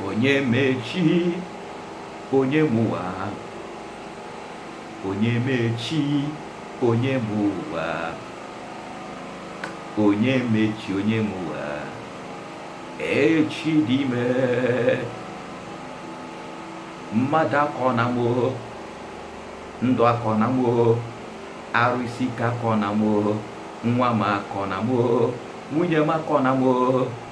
onye mechi onye mụwa onye mechi onye mụwa onye mechi onye mụwa echi dị ime mmadụ akọ na mo ndụ akọ na mo arụ isi ike akọ na mo nwa m akọ na mo nwunye m akọ na mo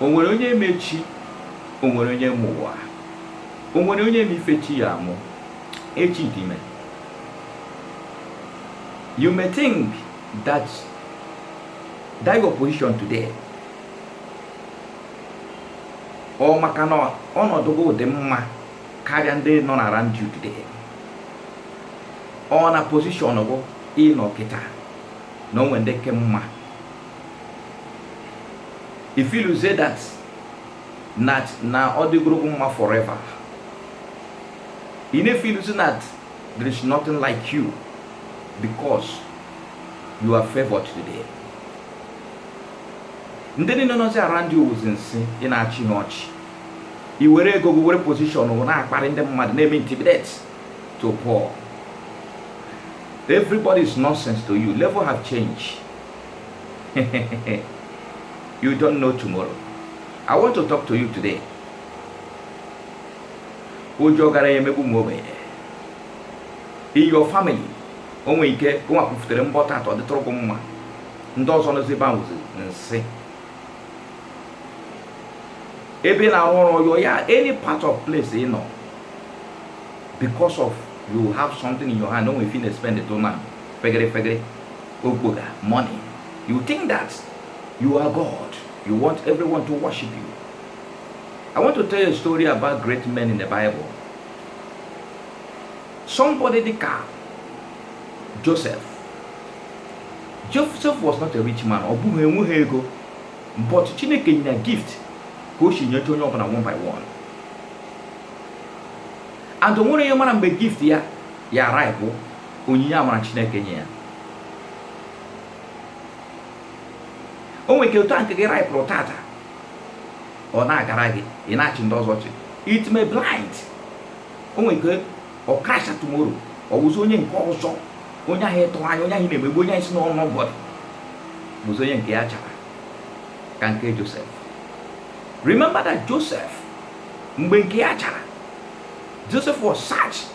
O nwere onye ma echi, o nwere onye ma ụwa, o nwere onye ma ife echi ya-amụ, echi dị ime. You may think that that your position today ọ maka na ọnọdụ gị dị mma karịa ndị nọ na around you today ọ na position gị ị nọ kịta na o nwere ndị ị ka mma i feelzie that na na ọ dịgoro gị mma forever ị na-efeelzi that there is nothing like you because you are favored today ndị niile nọzi around you wụzi nsị ị na-achị ha ọchị i were ego gị were position na-akparị ndị mmadụ na-eme intimidate the poor everybody is nonsense to you level have changed you don't know tomorrow i want to talk to you today o ji ọgaranya emegbu ụmụ ogbenye in your family o nwere ike gụnwa kwufutere mbụ tata ọ dịtụrụ gị mma ndị ọzọ nọzi ebe a wụzi nsị ebe ị na-arụ ọrụ your yard any part of place ị nọ because of you have something in your hand o nwere ife ị na-espend to na fegere fegere Okpoga, money. You think that you are God. You want everyone to worship you. I want to tell you a story about great men in the Bible. Somebody dịka Joseph. Joseph was not a rich man. Ọ bụghị enweghị ego. But Chineke nye ya gift ka o si nyecha onye ọbụla one by one. And o nwere onye mara mgbe gift ya ya-aripe onyinye amara chineke nye ya o nwere ike otu a nke gị raịpụrụ tata ọ na-agara gị ị na-achị ndị ọzọ ọchị it may blind o nwere ike ọ crashia tomorrow ọ wụzi onye nke ọzọ onye ahụ ị tụ anya onye ahụ ị na-emegbu onye ahụ ị sị na ọ nobody bụzi onye nke ya chara ka nke Joseph remember that Joseph mgbe nke ya chara Joseph was searched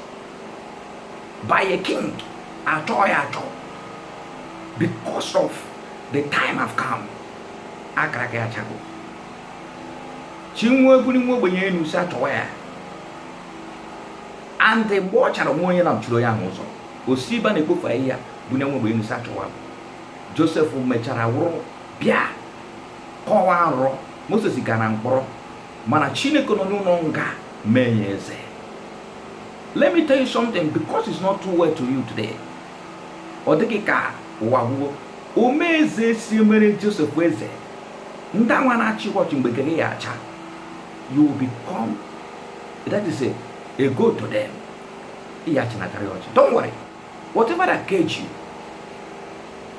by a king achọọ ya achọ because of the time have come akaraka ya achago chi na-ebuli nwa ogbenye elu si achọwa ya and mgbe ọ chara o nweghị onye na-emechiri onye ahụ ụzọ o si ebe a na-ekpofu ahịhịa bunie nwa ogbenye elu si achọwa josef mechara wụrụ bịa kọwaa nrọ moses gara mkpọrọ mana chineke nọ n'ụlọ nga mee ya eze let me tell you something because it's not too well to you today ọ dị gị ka ụwa agwụwo ome eze si mere josef eze ndị anwa na-achị ọchị mgbe nke gị ya-acha you will become that is a, a god to them ị ya-achị na karịa ọchị don't worry whatever that cage you